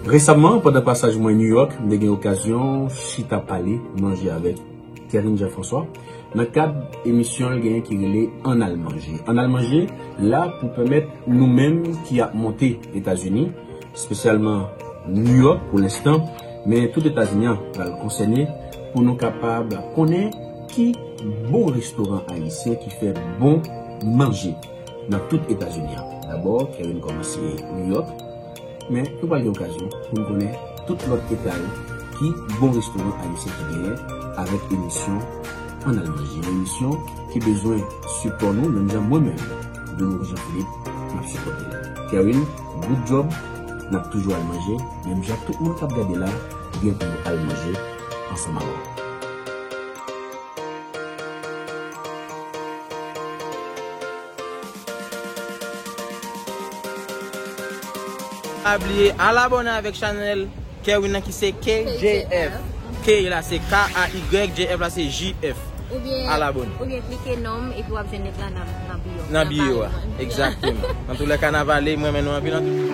Resamman, pandan pasaj mwen New York, m te gen okazyon chita pale, manje avèk Thierine Jean François nan kad emisyon l genyen ki rele Ann al manje. Ann al manje la pou pèmèt nou menm ki ap monte Etazini, spesyalman New York pou lenstan, men tout Etazini an pral konsène pou nou kapab konnen ki bon restoran ayisyen ki fè bon manje nan tout Etazini an. Dabò, Kerwin kòmanse New York, men nou pral gen okazyon pou n konnen tout lòt eta yo ki bon restoran ayisyen ki genyen avèk emisyon Ann Al Manje, yon emisyon ki bezwen sipò nou menm jan mwen menm, Dominique Jean Philippe, m ap sipòte l. Kerwin. Good job nap toujou al manje menm jan tout moun kap gade la gen pou yo al manje ansanm avèm. Pa bliye al abone avèk chanèl. Kerwin nan ki se KJF. K la se KAY, JF la se JF. A la bonne. Oubyen klike non m epi w ap jwenn link la nan bio m. Nan bio a. Exactement. Nan tou lèka nan vale, m renmen nou anpil antou.